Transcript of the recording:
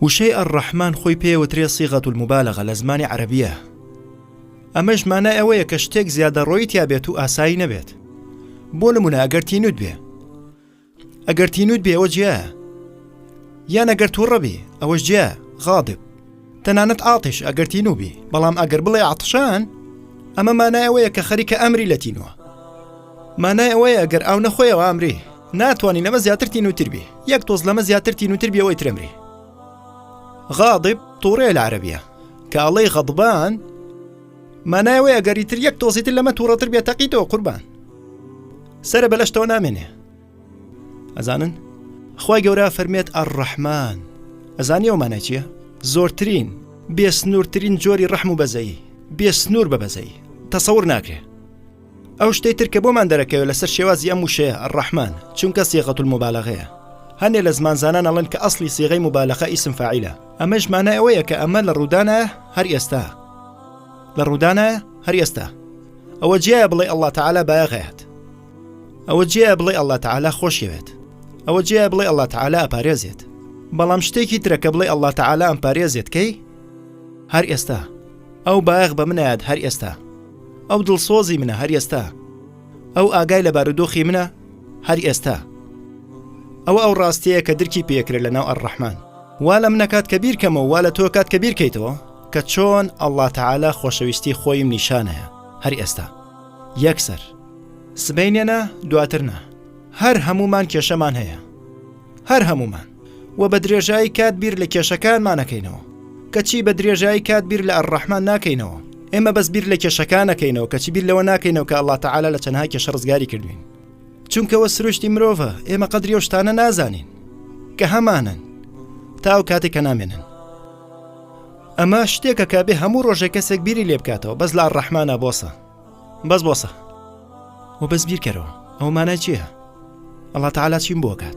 وشەی الرحمن خۆی پێوترێ صیغە المبالغە لە زمانی عەرەبیە ئەمەش مانای ئەوەیە کە شتێک زیادەڕۆیی تیا بێت و ئاسایی نەبێت بۆ نمونە ئەگەر تینوت بێ ئەگەر تینوت بێ ئەوە جیا یان ئەگەر تووڕە بێ ئەوەش جیا غاضب تەنانەت ئاتش ئەگەر تینو بێ بەڵام ئەگەر بڵێ عتشان ئەمە مانای ئەوەیە کە خەریکە ئەمری لە تینوە مانای ئەوەیە ئەگەر ئەو نەخۆیەوە ئەمرێ ناتوانانی لەمە زیاتر تینوتر بێ یەک تۆز لەمە زیاتر تینوتر بێەوەی ترەمرێ غاضب تووڕێ لە عربیە کە ئەڵەی غەضبان مانای ئەوەیە گەری تر یەک تۆزیتر لەمە تووڕەتر بێت تەقیتەوە قوربان سرە بەلەشتەوە نامێنێ ئەزانن خی گەورە فەرمێت ئەڕەحمان ئەزانی ئەو مانای چییە زۆرترین بێسنوورترین جۆری ڕەحم و بەزەیی بێسنوور بە بەزەیی تەسەور ناکرێ ئەو شتەی تر کە بۆمان دەرەکەوێت لەسەر شێوازی ئەم وشەیە ڕەحمان چونکە سیغەتول مبالغەیە هەنێ لە زمانزانان ئەڵێن کە ئەسلی سیغەی مبالغە ئیسم فاعیلە ئەمەش مانای ئەوەیە کە ئەمە لە ڕوودانە هەر ئێستا لە ڕوودانە هەر ئێستا ئەوە جیایە بڵێ ئەڵڵا تەعالا بایەغەیەت ئەوە جیایە بڵێ ئەڵڵا تەعالا خۆشیەوێت ئەوە جیایە بڵێ ئەڵڵا تەعالا ئەپارێزێت بەڵام شتێکی ترەکە بڵێ ئەڵڵا تەعالا ئەم پارێزێت کەی هەر ئێستا ئەو بایەخ بە منایەت هەر ئێستا ئەو دڵسۆزی منە هەر ئێستا ئەو ئاگای لە بارودۆخی منە هەر ئێستا ئەوە ئەو ڕاستەیە کە درکی پێکرێ لە ناو ئەڕەحمان وا لە منەکات کە بیرکەمەوە وا لە تۆ کات کە بیرکەیتەوە کە چۆن ئەله تەعالا خۆشەویستی خۆیم نیشانەیە هەر ئێستا یەکسەر سبینێنە دواترنا هەر هەمومان کێشەمان هەیە هەر هەمومان وە بە درێژایی کات بیر لە کێشەکانمان نەکەینەوە کەچی بە درێژایی کات بیر لە الرحمن ناکەینەوە ئێمە بەس بیر لە کێشەکان نەکەینەوە کەچی بیر لەوە ناکەینەوە کە اللە تعالی لە چەنها کێشە ڕزگاری کردوین چونکەوە سروشتی مرۆڤە ئێمە قەدری و شتانە نازانین کە هەمانن تا ئەو کاتێک کە نامێنن ئەمە شتێکە کە بێ هەموو ڕۆژێک کەسێک بیری لێ بکاتەوە بەس لا ڕەحمانە بۆسە بەس بۆسە و بەس بیرکەرەوە ئەو مانای چییە؟ ئەڵا تعالا چیم بۆ کات